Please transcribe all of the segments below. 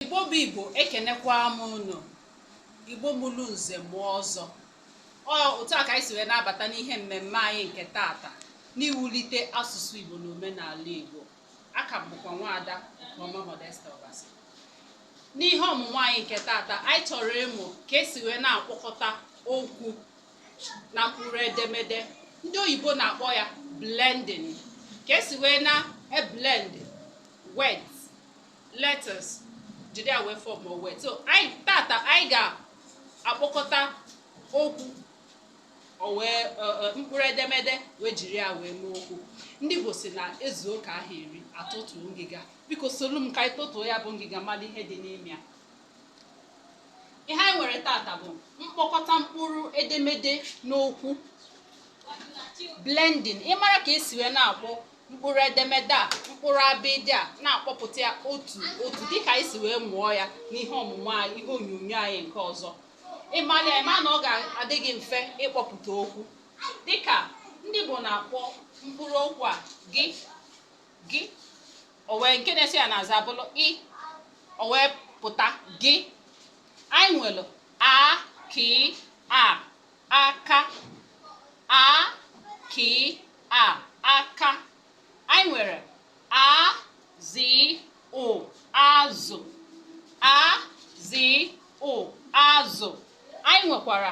Igbo bụ Igbo ekenekwa m unu Igbo mụrụ nze mụọ ọzọ ọ otu a ka anyị si wee na-abata n'ihe mmemme anyị nke tata n'iwulite asụsụ Igbo na omenala Igbo aka m bụkwa nwaada Ọma Modesta Obasi n'ihe ọmụmụ anyị nke tata anyị chọrọ ịmụ ka esi wee na-akpọkọta okwu na mkpụrụ edemede ndị oyibo na-akpọ ya blending ka esi wee na-eblend words letters jiri ya wee form word so anyị tata anyị ga-akpọkọta okwu o wee e, e, mkpụrụ edemede wee jiri ya wee mee okwu ndị Igbo si na ezuo ka aha eri atọtuo ngịga biko solu m ka anyị tọtuo ya bụ ngịga malụ ihe dị n'ime ya ihe anyị nwere tata bụ mkpọkọta mkpụrụ edemede n'okwu blending ịmara ka esi wee na-akpọ mkpụrụ edemede a mkpụrụ abịdị a na-akpọpụta ya otu otu dịka anyị si wee mụọ ya n'ihe ọmụmụ anyị ihe onyonyo anyị nke ọzọ ị mara ya ị ma na ọ ga-adị gị mfe ịkpọpụta okwu dịka ndị Igbo na-akpọ mkpụrụ okwu a gị gị o wee nke na-eso ya n'azụ abụrụ ị o wee pụta gị anyị nwere a k a aka a k a aka anyị nwere a z ụ azụ a z ụ azụ anyị nwekwara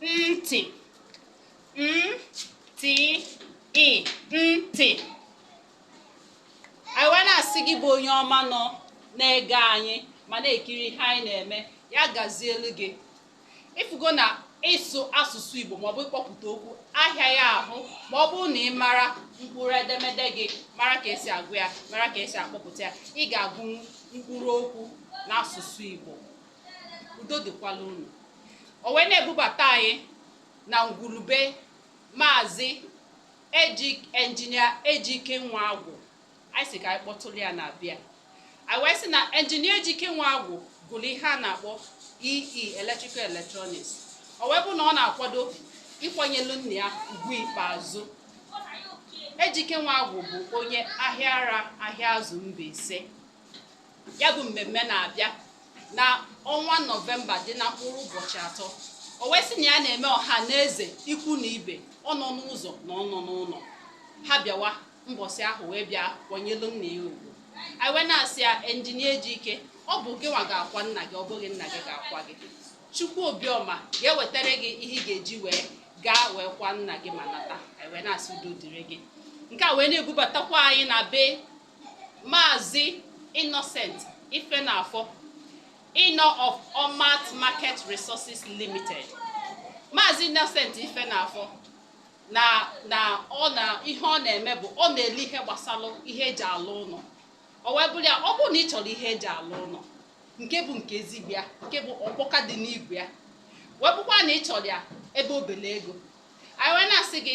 ntị n t ị ntị anyị wee na-asị gị bụ onye ọma nọ na-ege anyị ma na-ekiri ihe anyị na-eme ya gazielu gị ị fụgo na ịsụ asụsụ Igbo maọbụ ịkpọpụta okwu ahịaghị ahụ ma ọ bụrụ na ị mara mkpụrụ edemede gị mara ka esi agụ ya mara ka esi akpọpụta ya ị ga-agụnwu mkpụrụ okwu n'asụsụ Igbo udo dịkwala unu o wee na-ebubata anyị na ngwulu be maazị enjinia Ejike Nwagwụ anyị si ka anyị kpọtụrụ ya na-abịa anyị wee sị na enjinia Ejike Nwagwụ gụrụ ihe a na-akpọ EE e, electrical electronics o wee bụ na ọ na-akwado ịkwanyelu nna ya ugwu ikpeazụ Ejike Nwagwụ bụ onye Ahịara Ahịazụ Mbaise ya bụ mmemme na-abịa na ọnwa nọvemba dị na mkpụrụ ụbọchị atọ o wee sị na ya na-eme ọha na eze ikwu na ibe ọnọ n'ụzọ na ọnọ n'ụlọ ha bịawa mbọsị ahụ wee bịa kwanyelu nna ya ugwu anyị wee na-asị ya enjinia Ejike ọ bụ gị nwa ga-akwa nna gị ọ bụghị nna gị ga-akwa gị chukwu obiọma ga-ewetara gị ihe ị ga-eji wee gaa wee kwa nna gị ma nata anyị wee na-asị udo dịrị gị nke a wee na-ebubatakwa anyị na be Maazị Innocent Ifenafor, Inọ of Omat Market Resources Limited. Maazị Innocent Ifenafor na na ọ na ihe ọ na-eme bụ ọ na-ele ihe gbasara ihe eji alụ ụlọ o wee bụrụ ya ọ bụrụ na ị chọrọ ihe eji alụ ụlọ nke bụ nke ezigbo ya nke bụ ọkpọka dị n'igwe ya wee bụkwa na ị chọrọ ya ebe obele ego anyị wee na-asị gị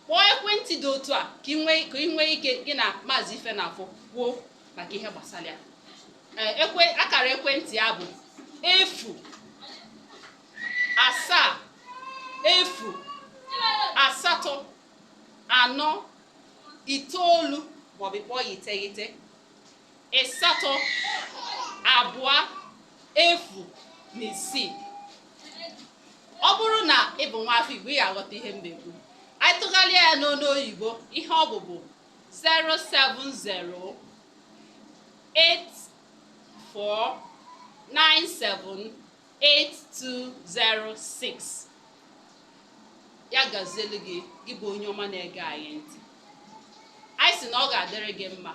kpọọ ekwentị dị otu a ka ị nwee ike gị na maazị Ifenafor kwuo maka ihe gbasara ya akara ekwentị ya bụ efu asaa efu asatọ anọ itoolu maọbụ kpọọ ya iteghete ịsatọ abụọ efu na isii ọ bụrụ na ị bụ nwa afọ Igbo ị ga-aghọta ihe m na-ekwu anyị tụgharịa ya n'olu oyibo ihe ọ bụ bụ 070 84978206 ya gazielu gị gị bụ onye ọma na-ege anyị ntị anyị sị na ọ ga-adịrị gị mma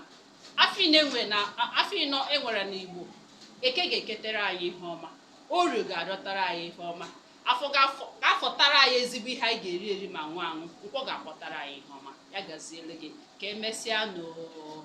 Afịa ịnọ e nwere na- a- afịa ịnọ e nwere n'Igbo, Eke ga-eketere anyị ihe ọma, Orie ga-arịọtara anyị ihe ọma, Afọ ga-afọ ga-afọtara anyị ezigbo ihe anyị ga-eri eri ma ṅụọ aṅụ, Nkwọ ga-akwọtara anyị ihe ọma. Ya gaziere gị. Ka emesịa nụ o.